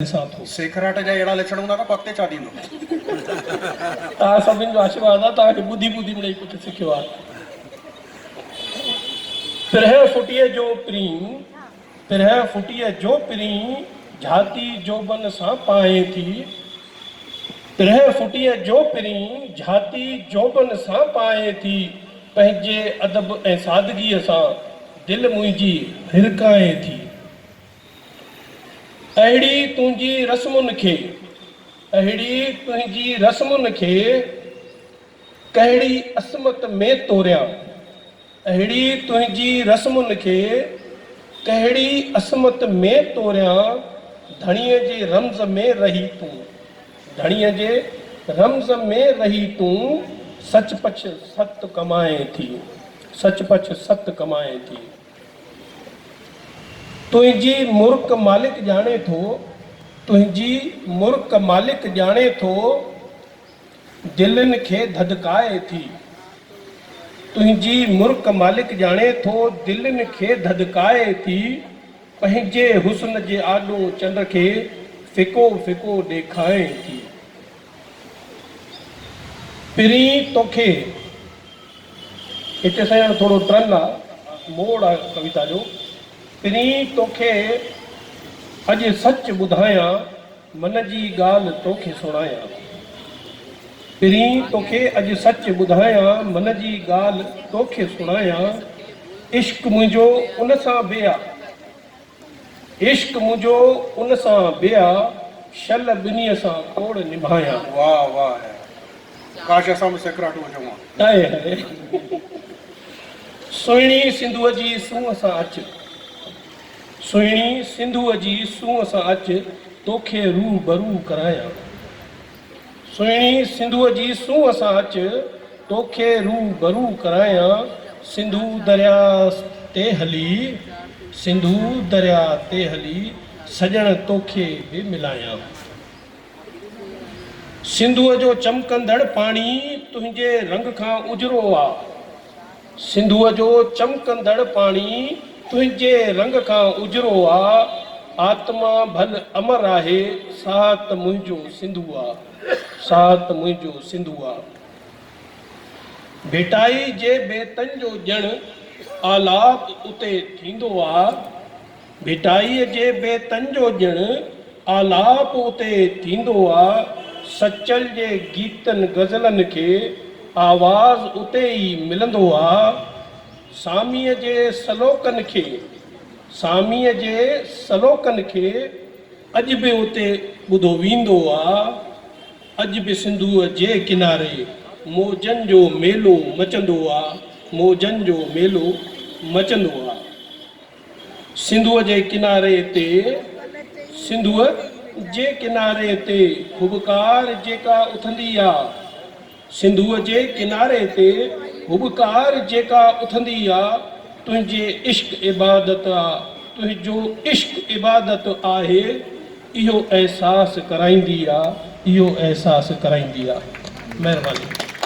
ڏسان ٿو. سيکراٽ جا اهڙا لڇڻ هوندا ته پڳ تي ڇا ٿيندو. توهان سڀني جو آشيرواد آهي توهان کي ٻڌي ٻڌي مڙئي ڪجهه سکيو آهي. پرهين ڦٽيء جو پرين پرهين ڦٽيء جو پرين جهاتي جوبن سان پانهين ٿي پرهين ڦٽيء جو پرين جهاتي جوبن سان پانهين ٿي پنهنجي ادب ۽ سادگيء سان دل منهنجي هرکانهين ٿي. اهڙي تنهنجي رسمن کي، اهڙي تنهنجي رسمن کي، ڪهڙي عصمت ۾ توريان، اهڙي تنهنجي رسمن کي، ڪهڙي عصمت ۾ توريان، ڌڻيء جي رمز ۾ رهي تون، ڌڻيء جي رمز ۾ رهي تون، سچ پچ ست ڪمائين ٿي، سچ پچ ست ڪمائين ٿي. تنهنجي مرڪ مالڪ ڄاڻي ٿو، تنهنجي مرڪ مالڪ ڄاڻي ٿو، دلين کي ڌڌڪائي ٿي. تنهنجي مرڪ مالڪ ڄاڻي ٿو، دلين کي ڌڌڪائي ٿي، پنهنجي حسن جي آڏو چنڊ کي ڦڪو ڦڪو ڏيکائين ٿي. پھرين توکي هتي سائين هاڻي ٿورو ٽرن آ موڙ آ ڪويتا جو پھرين توکي اڄ سچ ٻڌايان من جي ڳالھ توکي سڻايان پھرين توکي اڄ سچ ٻڌايان من جي ڳالھ توکي سڻايان عشق منهنجو ان سان بي آ. عشق منهنجو ان سان بيا شل ٻنيء سان ڪوڙ نڀايان. واه واه اي ڪاش اسان به سيکراٽو هجون ها. هاء هاء سهڻي سنڌوء جي سونهن سان اچ سهڻي سنڌوء جي سونهن سان اچ توکي روح برو ڪرايان. سهڻي سنڌوء جي سونهن سان اچ، توکي روء برو ڪرايان، سنڌو درياء تي هلي، سنڌو درياء تي هلي، سڄڻ توکي به ملايان. سنڌوء جو چمڪندڙ پاڻي، تنهنجي رنگ کان اجرو آ. سنڌوء جو چمڪندڙ پاڻي تنهنجي رنگ کان اجرو آ، آتما ڀل امر آهي، ساهت منهنجو سنڌوء، ساهت منهنجو سنڌوء. ڀٽائي جي بيتن جو ڄڻ آلاپ اتي ٿيندو آ. ڀٽائيء جي بيتن جو ڄڻ آلاپ اتي ٿيندو آ، سچل جي گيتن غزلن کي آواز اتي ئي ملندو آ، ساميء جي سلوڪن کي ساميء جي سلوڪن کي اڄ به اتي ٻڌو ويندو آ، اڄ به سنڌوء جي ڪناري موجن جو ميلو مچندو آ، موجن جو ميلو مچندو آ. سنڌوء جي ڪناري تي، سنڌوء جي ڪناري تي، هٻڪار جيڪا اٿندي آ. سنڌوء جي ڪناري تي، هٻڪار جيڪا اٿندي آ، تنهنجي عشق عبادت آ، تنهنجو عشق عبادت آهي، اهو احساس ڪرائيندي آ، اهو احساس ڪرائيندي آ. مهرباني.